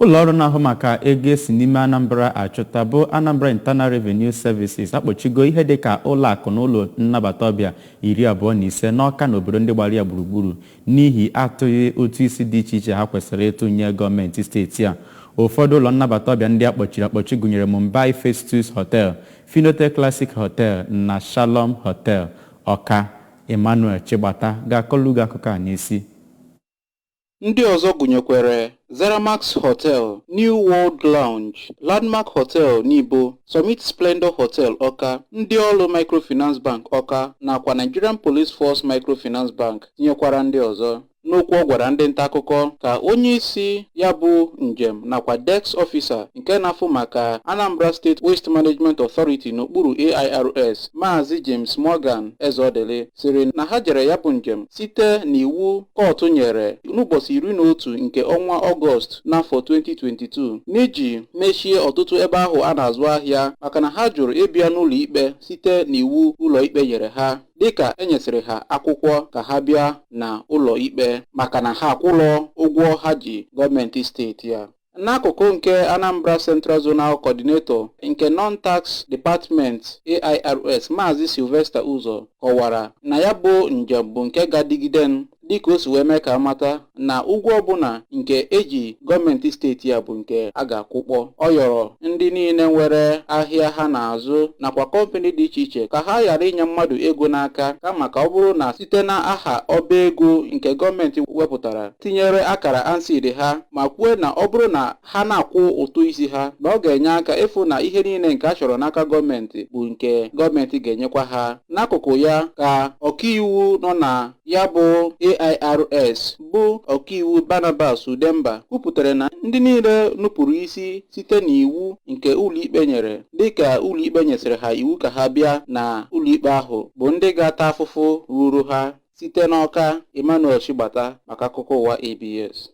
Ụlọọrụ na-ahụ maka ego e si n'ime Anambra achụta bụ Anambra Internal Revenue Services akpọchigo ihe dịka ụlọakụ na ụlọ nnabata ọbịa iri abụọ na ise n'Awka na obodo ndị gbara ya gburugburu n'ihi atụghị ụtụ isi dị iche iche ha kwesịrị ịtụ nye gọọmenti steeti a. Ụfọdụ ụlọ nnabata ọbịa ndị a kpọchiri akpọchi gụnyere Mumbai Festus Hotel, Finotel Classique Hotel na Shalom Hotel, Awka. Emmanuel Chigbata ga-akọlụ gị akụkọ a n'isi. Ndị ọzọ gụnyekwere Zeramax Hotel, New World Lounge, Landmark Hotel Nibo, Summit Splendor Hotel Ọka, Ndiolu Microfinance Bank Ọka nakwa Nigerian Police Force Microfinance Bank tinyekwara ndị ọzọ. N'okwu ọ gwara ndị nta akụkọ ka onye isi ya bụ njem nakwa Desk Officer nke na-afụ maka Anambra State Waste Management Authority n'okpuru AIRS, Maazị James Morgan Ezeọdịlị sịrị na ha jere ya bụ njem site n'iwu kọtụ nyere n'ụbọchị iri na otu nke ọnwa ọgọst n'afọ 2022 n'iji mechie ọtụtụ ebe ahụ a na-azụ ahịa maka na ha jụrụ ịbịa n'ụlọ ikpe site n'iwu ụlọ ikpe nyere ha dịka e nyesịrị ha akwụkwọ ka ha bịa na ụlọ ikpe maka na ha akwụlọ ụgwọ ha ji gọọmenti steeti ya N'akụkụ nke Anambra Central Zonal Coordinator nke Non-Tax Department AIRS Maazị Sylvester Ụzọ kọwara na ya bụ njem bụ nke ga-adịgide dịka o si wee mee ka a mata na ụgwọ ọbụla nke e ji gọọmenti steeti ya bụ nke a ga-akwụkpọ. Ọ yọrọ ndị niile nwere ahịa ha na-azụ nakwa kọmpani dị iche iche ka ha ghara inye mmadụ ego n'aka kama ka ọ bụrụ na site na aha ọba ego nke gọọmenti wepụtara tinyere akara ANSSID ha ma kwue na ọ bụrụ na ha na-akwụ ụtụ isi ha na ọ ga-enye aka ịfụ na ihe niile nke a chọrọ n'aka gọọmenti bụ nke gọọmenti ga-enyekwa ha. N'akụkụ ya ka ọkaiwu nọ na ya bụ AIRS bụ ọkaiwu Barnabas Udemba kwupụtara na ndị niile nupụrụ isi site n'iwu nke ụlọikpe nyere dịka ụlọikpe nyesịrị ha iwu ka ha bịa na ụlọikpe ahụ bụ ndị ga-ata afụfụ ruru ha site n'Ọka Emmanuel Chigbata maka akụkọ ụwa ABS.